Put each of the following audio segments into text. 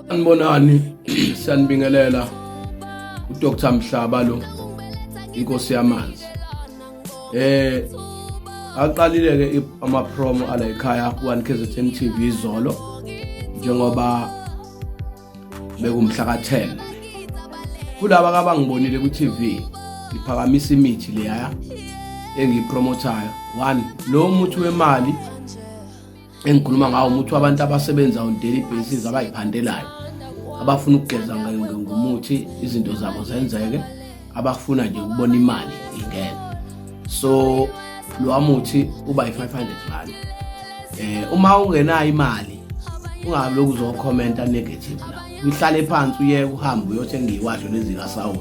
Anibonani siyanibingelela uDr Mhlaba lo inkosi yamanzi eh aqalile ke ama promo ala ekhaya ku KZN TV izolo njengoba bekumhla ka 10 kulaba kabangibonile ku TV ngiphakamisa imithi leya engiyipromothayo one lo muthi wemali engikhuluma ngawo umuthi wabantu abasebenza on daily basis abayiphandelayo abafuna ukugeza ngomuthi izinto zabo zenzeke abafuna nje ukubona imali ingene so lo muthi uba yi-500 rand eh uma ungenayo imali ungabe lokhu uzokhomenta negative la uhlale phansi uye uhamba uyothenga iwasho lezika Saudi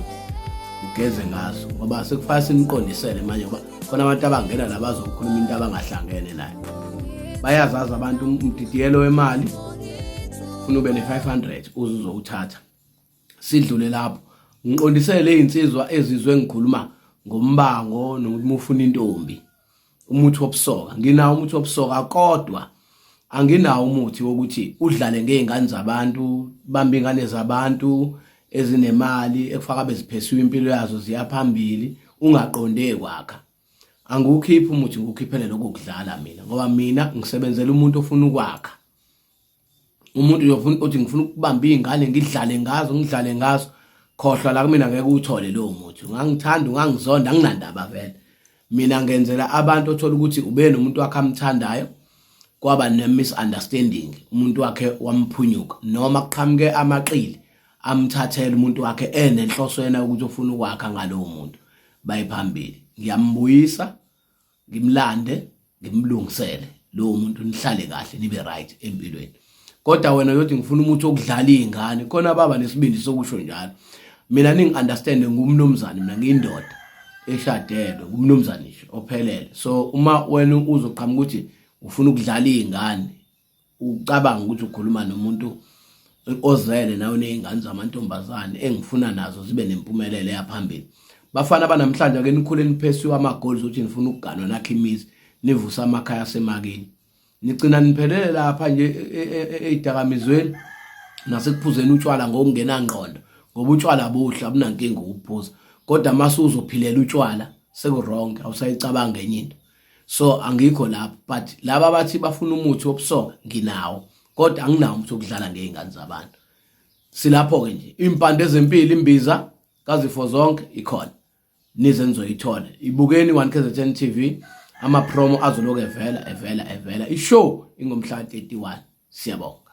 ugeze ngazo ngoba sekufanele siniqondisele manje ngoba khona abantu abangena la bazokhuluma into abangahlangene nayo bayazazi abantu umdidiyelo wemali funa ube ne-500 uze uzowuthatha sidlule lapho ngiqondisele izinsizwa ezizwe ngikhuluma ngombango nokuthi mufuna intombi umuthi wobusoka nginawo umuthi wobusoka kodwa anginawo umuthi wokuthi udlale ngey'ngane zabantu bambe iy'ngane zabantu ezinemali ekufaka beziphesiwe impilo yazo ziyaphambili ungaqonde kwakha angiwukhiphi umuthi ngiwukhiphele lokho kudlala mina ngoba mina ngisebenzela umuntu ofuna ukwakha umuntu uyofuna uthi ngifuna ukubamba iy'ngane ngidlale ngazo ngidlale ngazo khohlwa la kumina ngeke uwuthole lowo muthi ungangithanda ungangizonda anginandaba vele mina ngenzela abantu othola ukuthi ube nomuntu wakhe amthandayo kwaba ne-misunderstanding umuntu wakhe wamphunyuka noma kuqhamuke amaqili amthathele umuntu wakhe enenhloso yena ukuthi ufuna ukwakha ngalowo muntu bayiphambili ngiyambuyisa ngimlande nimlungisele lowo muntu nihlale kahle nibe right empilweni kodwa wena uyothi ngifuna umuthi okudlala iy'ngane khona baba nesibindi sokusho njalo mina ningi-understande ngumnumzane mina ngiyindoda eshadelwe ngumnumzane nje ophelele so uma wena uzoqhamuka ukuthi ufuna ukudlala iy'ngane ucabanga ukuthi ukhuluma nomuntu ozele nawe nezingane zamantombazane engifuna nazo zibe nempumelelo yaphambili bafana banamhlanje ake nikhule niphesiwe amagoli zokuthi nifuna ukuganwa nakhe imizi nivusa amakhaya asemakini nigcina niphelele lapha nje ezidakamizweni e, e, e, nasekuphuzeni utshwala ngokungenangqondo ngoba utshwala buhle abunankinga ukuphuza kodwa mase uzophilela utshwala sekurong awusayicabange enye into so angikho lapho but laba bathi bafuna umuthi wobusoka nginawo kodwa anginawo umuthi wokudlala ngey'ngane zabantu silapho-ke nje iy'mpande ezempilo imbiza kazifo zonke ikhona nize nizoyithola ibukeni one kzn t v amapromo azoloku evela evela evela ishow ingomhla 31 siyabonga